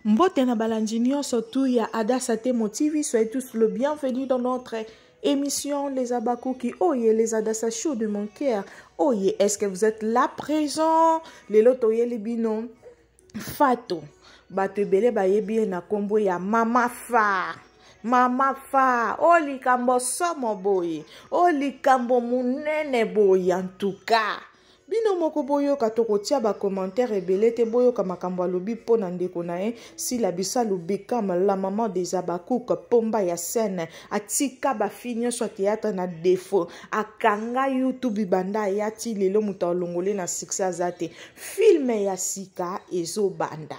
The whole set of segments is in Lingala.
Mbote na balandi nyonso tu ya Adassa Temo TV, soyez tous le bienvenu dans notre émission Les Abakuki. Oh yeah, les Adassa Show de mon cœur. Oh yeah, est-ce que vous êtes là présent? Les loto les binon. Fato. Bato ebele bayebi ye na kombo ya Mama Fa. mama fa o oh, likambo somo boye o oh, likambo monene boye antuka bino moko boyoka tokotia bacommentaire ebele te boyoka makambo alobi mpo na ndeko na ye sila bisalu bikam la maman des abacouk pomba ya scène atika bafi nyonso ya théâtre na defaut akanga youtube banda aya ti lelo moto alongole na succès aza te filme ya sika ezobanda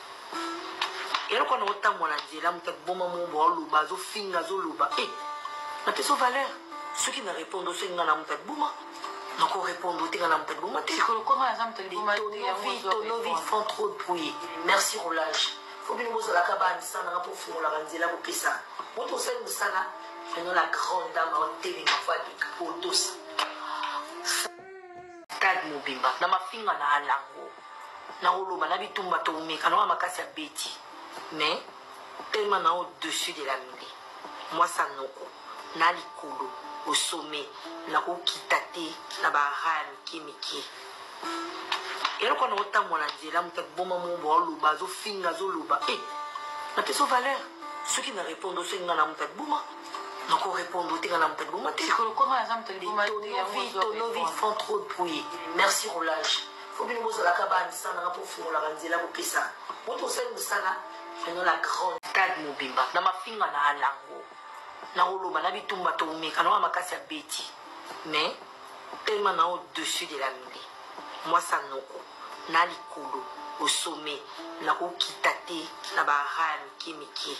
eloko wana otambola nzela moto akoboma mombo aoloba azofinga azoloba e eh, napeso valeur soki na répondre osengi nga na moto akoboma nakorépondre otenga na moto akoboma te tonovi font trop de bruit merci roulage po bino bozalaka bandisa nanga pofungolaka nzela bopesa moto osali mosala maintenant la grande dame aotelema fo aleka otosa stade mobimba na mafinga na alango naoloba na bitumba toumeka nanga makasi ya beti mais tellement na au dessus de la mile mwasa noko na likolo au sommet nakokita te na bara ya mike mike eloko na otambola nzela moto akiboma mobo aoloba azofinga azoloba e eh, napeso valeur soki na répondre osengi nga na moto akiboma nakorépondre te nga na moto akiboma te tonovi font trop de bruit merci roulage faut bino bozalaka ba ndisangana mpo ofungolaka nzela bopesa moto osali mosala pendant la grande stade mobimba na mafinga na alango na oloba na bitumba toumeka naoa makasi ya beti mais tellement na au-dessus de la mili mwasa noko na likolo osome nakokita te na baraya mike mike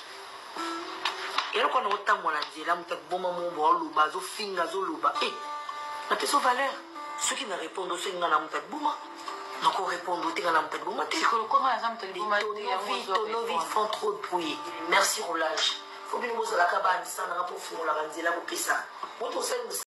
eloko wana otambola nzela moto akiboma mombo aoloba azofinga azoloba e eh, napeso valeur soki na répondre osengi nga na moto akiboma nakorépondre te nga na moto akiboma te tonovi font trop de bruit merci roulage fo bino bozalaka bandisa nanga mpo ofungolaka nzela kopesa moto osali